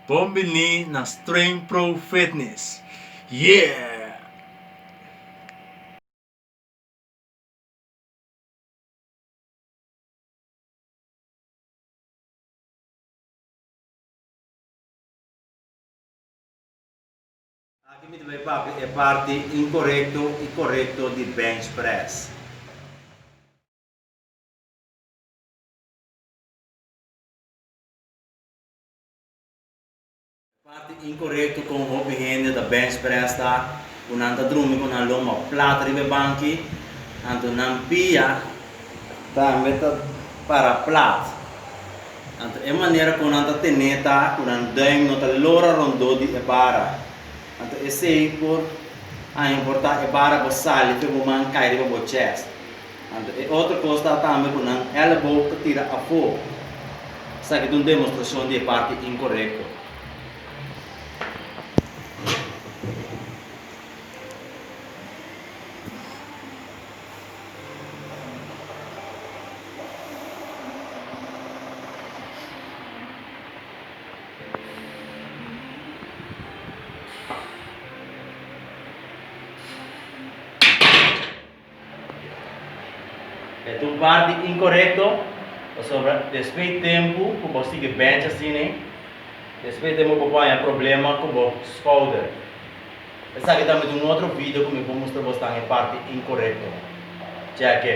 Bon bini na Streng Pro Fitness! Yeah! Aki mi ta bai papia e parti inkorekto i korekto di bench press. Parti inkorekto kon hopi hende ta bench press ta ku nan ta drumi ku nan lomba plat riba e banki, anto nan pia. Tambe ta para plat. Anto e manera kon nan ta tene ta ku nan duim no ta lora rondó di e bara. Anto esei por a importá e bara bo sali fe bo man kai riba bo chèst. Anto e otro cos ta tambe cu nan elleboog ta tira afo. Esaki ta un demostracion di e parti incorecto. E tu parti inkorekto, pasobra despues tempu ku bo sigui bench asina, despues tempu bo por haña problema ku bo skouder. Esaki ta mit un otro video ku mi por mustra bo stan e parti inkorekto. Chèk e.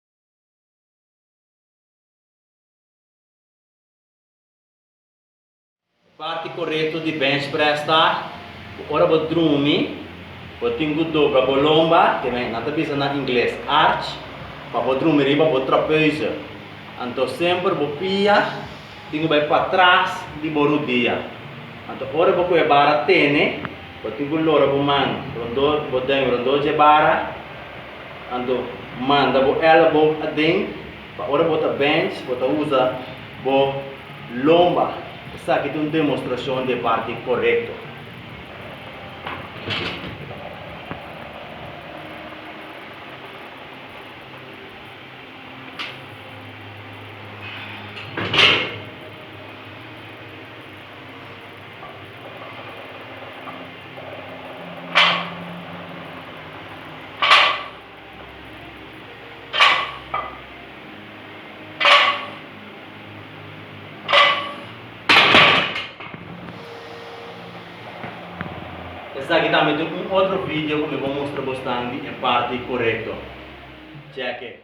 Parti korekto di benchpress ta ku ora bo drumi, bo tin ku dobra bo lomba, ke nan ta bisa na ingles arch, pa bo drumi riba bo trapeuze. Anto semper bo pia tin ku bai patras di bo rudia. Anto ora bo kue bara tene, bo tin ku lora bo man rondó bo den, rondó dje bara, Anto, manda bo èlbo aden, pa ora bo ta bènch, bo ta usa bo lomba. Esaki ta un demostrashon di e parti korekto. Esaki tambe ta un otro video cu mi bo mustra bosnan di e parti corecto. Cheque.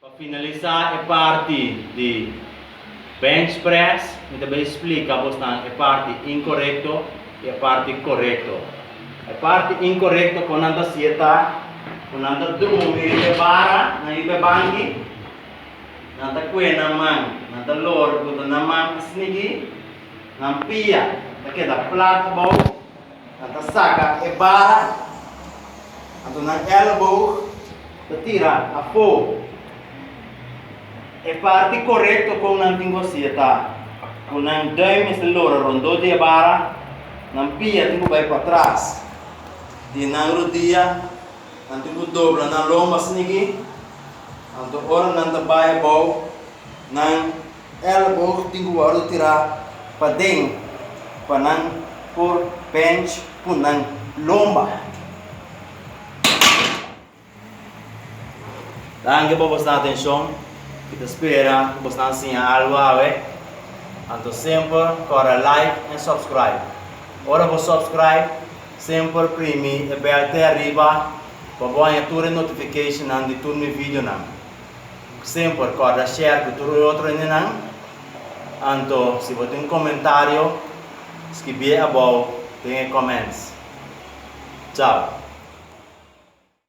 Pa finalisa e parti di bench press mi ta bai splika bos nan e parti inkorekto i e parti korekto. E parti inkorekto kon nan ta hasie ta ku nan ta drumi riba e bara nan riba e banki, nan ta kue nan man, nan ta lor buta nan man a snigi, nan pia ta keda plat abou. Nan ta saca e bara, anto nan elleboog ta tira afo. E parti corecto con nan tin cu hacia ta cu nan duim mester lora rondó di e bara, nan pia tin cu bay patras di nan rodia, nan tin cu dobla nan lomba snigi, anto ora nan ta bay abao nan Elleboog tin ku wordu tirá paden pa nan por bench ku nan lomba. Danki pa bosnan atenshon. Mi ta spera ku bosnan siña algu awe. Anto semper kòrda like en subscribe. Ora bo subscribe, semper primi e bèl te ariba pa bo haña tur e notificationnan di tur mi videonan. Kusné bo por kòrda share ku tur un otro hendenan? Anto si bo tin un komentario, skibié abou den e comments. Chao!